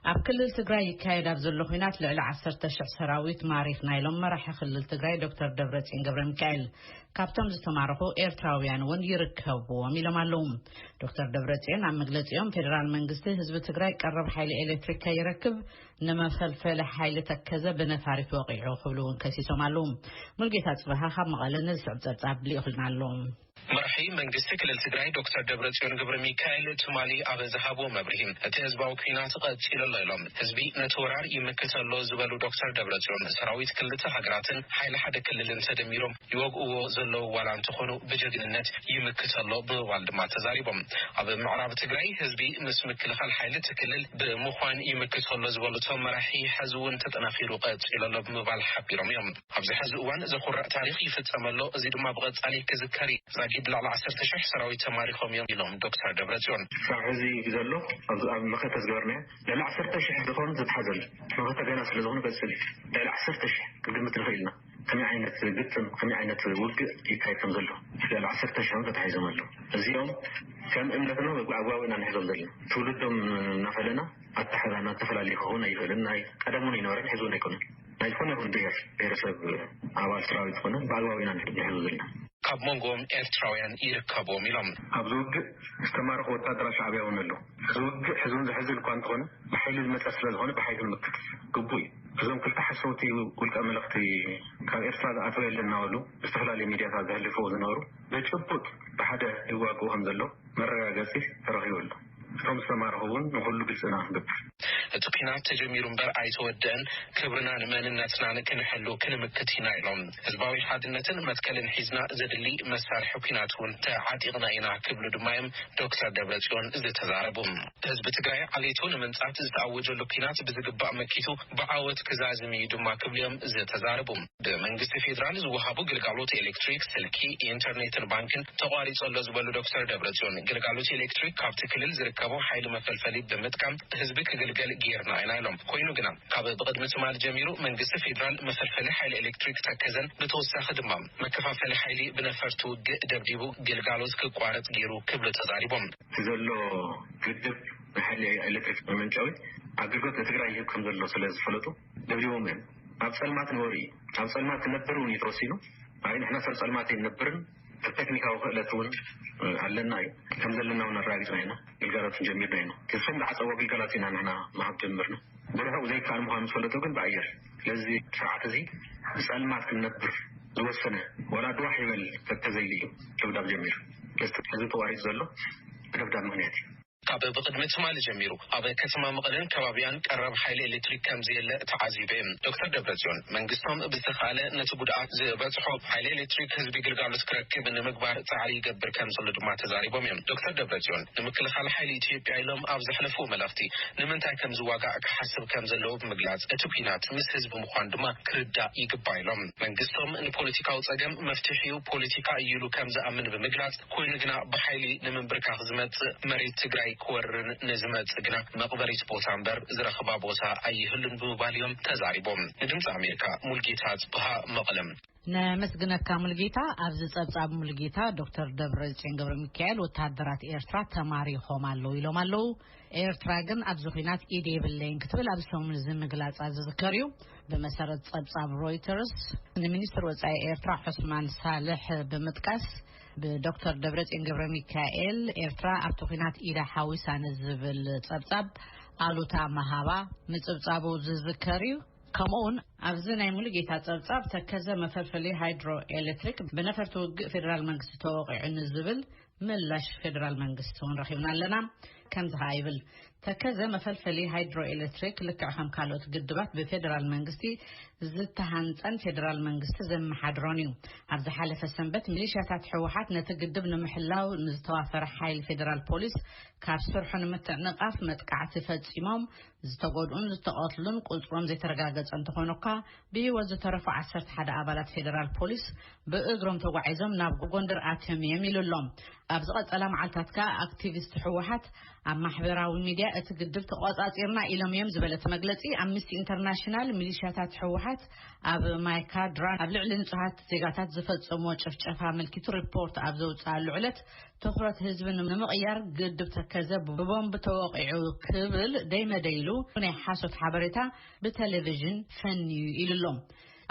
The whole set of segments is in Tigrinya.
ኣብ ክልል ትግራይ ይካየድ ኣብ ዘሎ ኹናት ልዕሊ ዓሰርተ ሽሕ ሰራዊት ማሪኽና ኢሎም መራሒ ክልል ትግራይ ዶክተር ደብረፅዮን ገብረሚካኤል። ካብቶም ዝተማረኹ ኤርትራውያን እውን ይርከብዎም ኢሎም ኣለዉ። ዶክተር ደብረፅዮን ኣብ መግለፂኦም ፌዴራል መንግስቲ ህዝቢ ትግራይ ቀረብ ሓይሊ ኤሌክትሪክ ከይረክብ ንመፈልፈሊ ሓይሊ ተከዘ ብነፋሪት ወቒዑ ክብሉ እውን ከሲሶም ኣለዉ። ሙልጌታ ጽበሃ ካብ መቐለ ንዝስዕብ ጸብጻብ ልኢኹልና ኣሎ። መራሒ መንግስቲ ክልል ትግራይ ዶክተር ደብረፅዮን ገብረሚካኤል ትማሊ ኣብ ዝሃብዎ መብርሂ እቲ ህዝባዊ ኲናት ቐፂሉ ኣሎ ኢሎም። ህዝቢ ነቲ ወራር ይምክት ኣሎ ዝበሉ ዶክተር ደብረፅዮን ሰራዊት ክልተ ሃገራትን ሓይሊ ሓደ ክልልን ተደሚሮም ይወግእዎ ዘለዉ ዋላ እንተኾኑ ብጀግንነት ይምክት ኣሎ ብምባል ድማ ተዛሪቦም። ኣብ ምዕራብ ትግራይ ህዝቢ ምስ ምክልኻል ሓይሊ እቲ ክልል ብምዃን ይምክት ኣሎ ዝበሉ እቶም መራሒ ሐዚ እውን ተጠናኺሩ ቀፂሉ ኣሎ ብምባል ሓቢሮም እዮም። ኣብዚ ሐዚ እዋን ዘኹርዕ ታሪኽ ይፍፀም ኣሎ እዚ ድማ ብቐፃሊ ክዝከር እዩ። ዛጊድ ልዕሊ ዓሰርተ ሽሕ ሰራዊት ተማሪኾም እዮም ኢሎም ዶክተር ደብረፅዮን። ክሳብ ሐዚ ብዘሎ ኣብ መኸተ ዝገበርናዮ ልዕሊ ዓሰርተ ሽሕ ዝኾኑ ዝተትሓዙ ኣለው። መኸተ ገና ስለዝኾኑ ይቐፅል እዩ። ልዕሊ ዓሰርተ ሽሕ ክንግምት ንኽእል ኢና። ከመይ ዓይነት ግጥም ከመይ ዓይነት ውግእ ይካየድ ከም ዘሎ ልዕሊ ዓሰርተ ሽሕ እውን ተታሒዞም ኣለዉ። እዚኦም ከም እምነትና ወይ ብኣግባቡ ኢና ንሕዞም ዘለና። ትውልዶም እናፈለና ኣተሓሕዛና ዝተፈላለየ ክኸውን ኣይኽእልን። ናይ ቀደም እውን ኣይነበረን ሕዚ እውን ኣይኮነን። ናይ ዝኾነ ይኹን ብሄር ብሄረሰብ ኣባል ሰራዊት ኮነ ብኣግባቡ ኢና ንሕዞ ዘለና። ካብ መንጎኦም ኤርትራውያን ይርከብዎም ኢሎም። ኣብዚ ውግእ ዝተማረኹ ወታደራት ሻዕብያ እውን ኣለዉ። እዚ ውግእ ሕዚ እውን ዘሕዝን እኳ እንተኾነ ብሓይሊ ዝመፀ ስለዝኾነ ብሓይሊ ክንምክት ግቡእ እዩ። እዞም ክልተ ሓሰውቲ ውልቀ መለኽቲ ካብ ኤርትራ ዝኣተወ የለን እናበሉ ብዝተፈላለዩ ሚድያታት ዘህልፍዎ ዝነበሩ ብጭቡጥ ብሓደ ይዋግኡ ከምዘለዉ መረጋገጺ ተረኺቡ ኣሎ። እቶም ዝተማረኹ እውን ንኹሉ ግልጺ ኢና ክንገብር። እቲ ኲናት ተጀሚሩ እምበር ኣይተወደእን፣ ክብርናን መንነትናን ክንሕሉ ክንምክት ኢና ኢሎም። ህዝባዊ ሓድነትን መትከልን ሒዝና ዘድሊ መሳርሒ ኲናት እውን ተዓጢቕና ኢና ክብሉ ድማ እዮም ዶክተር ደብረፅዮን ዝተዛረቡ። ህዝቢ ትግራይ ዓሌቱ ንምንፃት ዝተኣወጀሉ ኲናት ብዝግባእ መኪቱ ብዓወት ክዛዝም እዩ ድማ ክብሉ እዮም ዝተዛረቡ። ብመንግስቲ ፌዴራል ዝወሃቡ ግልጋሎት ኤሌክትሪክ፣ ስልኪ፣ ኢንተርኔትን ባንክን ተቋሪፁ ኣሎ ዝበሉ ዶክተር ደብረፅዮን፣ ግልጋሎት ኤሌክትሪክ ካብቲ ክልል ዝርከቦ ሓይሊ መፈልፈሊ ብምጥቃም ህዝቢ ክግልገል ገይርና ኢና ኢሎም። ኮይኑ ግና። ካብ ብቕድሚ ትማል ጀሚሩ መንግስቲ ፌዴራል መፈልፈሊ ሓይሊ ኤሌክትሪክ ተከዘን ብተወሳኺ ድማ መከፋፈሊ ሓይሊ ብነፈርቲ ውግእ ደብዲቡ ግልጋሎት ክቋረፅ ገይሩ ክብሉ ተዛሪቦም። እቲ ዘሎ ግድብ ናይ ሓይሊ ኤሌክትሪክ መመንጨዊ ኣገልግሎት ንትግራይ ይህብ ከምዘሎ ስለዝፈለጡ ደብዲቦሞ እዮም። ኣብ ፀልማት ንበሩ እዩ። ኣብ ፀልማት ክነብር እውን እዩ ተወሲኑ። ኣይ ንሕና ሰብ ፀልማት ኣይንነብርን። እቲ ተክኒካዊ ክእለት እውን ኣለና እዩ። ከም ዘለና እውን ኣረጋጊፅና ኢና። ግልጋሎት እውን ጀሚርና ኢና። እቶም ዝዓፀዎ ግልጋሎት ኢና ንሕና ምሃብ ጀምርና። ብርሑቕ ዘይከኣል ምዃኑ ዝፈለጡ ግን ብኣየር ስለዚ እዚ ስርዓት እዚ ብፀልማት ክንነብር ዝወሰነ ዋላ ድዋሕ ይበል ከከዘይሊ እዩ ደብዳብ ጀሚሩ። ስለዚ ሕዚ ተቋሪፁ ዘሎ ብደብዳብ ምኽንያት እዩ። ካብ ብቕድሚ ትማሊ ጀሚሩ ኣብ ከተማ መቐለን ከባቢኣን ቀረብ ሓይሊ ኤሌክትሪክ ከምዘየለ ተዓዚበ እየ። ዶክተር ደብረፅዮን መንግስቶም ብዝተኽኣለ ነቲ ጉድኣት ዝበፅሖ ሓይሊ ኤሌክትሪክ ህዝቢ ግልጋሎት ክረክብ ንምግባር ፃዕሪ ይገብር ከምዘሎ ድማ ተዛሪቦም እዮም። ዶክተር ደብረፅዮን ንምክልኻል ሓይሊ ኢትዮጵያ ኢሎም ኣብ ዘሕለፍዎ መልእኽቲ ንምንታይ ከምዝዋጋእ ክሓስብ ከምዘለዎ ብምግላፅ እቲ ኲናት ምስ ህዝቢ ምዃኑ ድማ ክርዳእ ይግባእ ኢሎም። መንግስቶም ንፖለቲካዊ ፀገም መፍትሒኡ ፖለቲካ እዩ ኢሉ ከምዝኣምን ብምግላፅ፣ ኮይኑ ግና ብሓይሊ ንምንብርካኽ ዝመፅእ መሬት ትግራይ ክወርርን ንዝመፅእ ግና መቕበሪት ቦታ እምበር ዝረኽባ ቦታ ኣይህሉን ብምባል እዮም ተዛሪቦም። ንድምፂ ኣሜሪካ ሙልጌታ ኣፅብሃ መቐለ። ነመስግነካ ሙልጌታ ኣብዚ ጸብጻብ ሙልጌታ ዶክተር ደብረጽዮን ገብረሚካኤል ወተሃደራት ኤርትራ ተማሪኾም ኣለዉ ኢሎም ኣለዉ ኤርትራ ግን ኣብዚ ኩናት ኢድ የብለይን ክትብል ኣብ ሰሙን እዚ ምግላጻ ዝዝከር እዩ ብመሰረት ጸብጻብ ሮይተርስ ንሚኒስትር ወጻኢ ኤርትራ ዑስማን ሳልሕ ብምጥቃስ ብዶክተር ደብረፅዮን ገብረ ሚካኤል ኤርትራ ኣብቲ ኩናት ኢዳ ሓዊሳ ንዝብል ፀብፃብ ኣሉታ መሃባ ምፅብፃቡ ዝዝከር እዩ ከምኡ ውን ኣብዚ ናይ ሙሉ ጌታ ፀብፃብ ተከዘ መፈልፈሊ ሃይድሮ ኤሌክትሪክ ብነፈርቲ ውግእ ፌደራል መንግስቲ ተወቂዑ ንዝብል ምላሽ ፌደራል መንግስቲ ውን ረኪብና ኣለና ከምዚ ከዓ ይብል ተከዘ መፈልፈሊ ሃይድሮ ኤሌክትሪክ ልክዕ ከም ካልኦት ግድባት ብፌደራል መንግስቲ ዝተሃንፀን ፌደራል መንግስቲ ዘመሓድሮን እዩ። ኣብ ዝሓለፈ ሰንበት ሚሊሽያታት ህወሓት ነቲ ግድብ ንምሕላው ንዝተዋፈረ ሓይሊ ፌደራል ፖሊስ ካብ ስርሑ ንምትዕንቓፍ መጥቃዕቲ ፈፂሞም ዝተጎድኡን ዝተቐትሉን ቁፅሮም ዘይተረጋገፀ እንተኾኑካ ብህይወት ዝተረፉ 11 ኣባላት ፌደራል ፖሊስ ብእግሮም ተጓዒዞም ናብ ጎንደር ኣትዮም እዮም ኢሉ ኣሎ። ኣብ ዝቐፀላ መዓልታት ከዓ ኣክቲቪስት ህወሓት ኣብ ማሕበራዊ ሚድያ እቲ ግድብ ተቖፃፂርና ኢሎም እዮም ዝበለት መግለፂ ኣምኒስቲ ኢንተርናሽናል ሚሊሻታት ህወሓት ኣብ ማይ ካድራ ኣብ ልዕሊ ንፁሃት ዜጋታት ዝፈፀሞ ጭፍጨፋ ኣመልኪቱ ሪፖርት ኣብ ዘውፅኣሉ ዕለት ትኹረት ህዝቢ ንምቕያር ግድብ ተከዘ ብቦምብ ተወቒዑ ክብል ደይመደይ ኢሉ ናይ ሓሶት ሓበሬታ ብቴሌቪዥን ፈንዩ ኢሉ ኣሎ።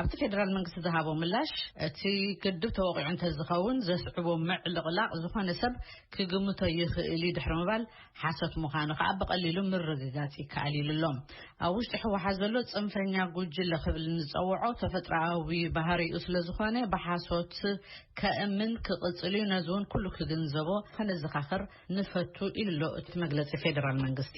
ኣብቲ ፌደራል መንግስቲ ዝሃቦ ምላሽ፣ እቲ ግድብ ተወቒዑ እንተዝኸውን ዘስዕቦ ምዕልቕላቕ ዝኾነ ሰብ ክግምቶ ይኽእል እዩ ድሕሪ ምባል፣ ሓሶት ምዃኑ ከኣ ብቐሊሉ ምርግጋጽ ይከኣል ኢሉ ኣሎ። ኣብ ውሽጢ ህወሓት ዘሎ ጽንፈኛ ጉጅለ ክብል እንጸውዖ ተፈጥሮኣዊ ባህሪኡ ስለዝኾነ ብሓሶት ከእምን ክቕጽል እዩ፣ ነዚ እውን ኩሉ ክግንዘቦ ከነዘኻኽር ንፈቱ ኢሉ ኣሎ እቲ መግለጺ ፌደራል መንግስቲ።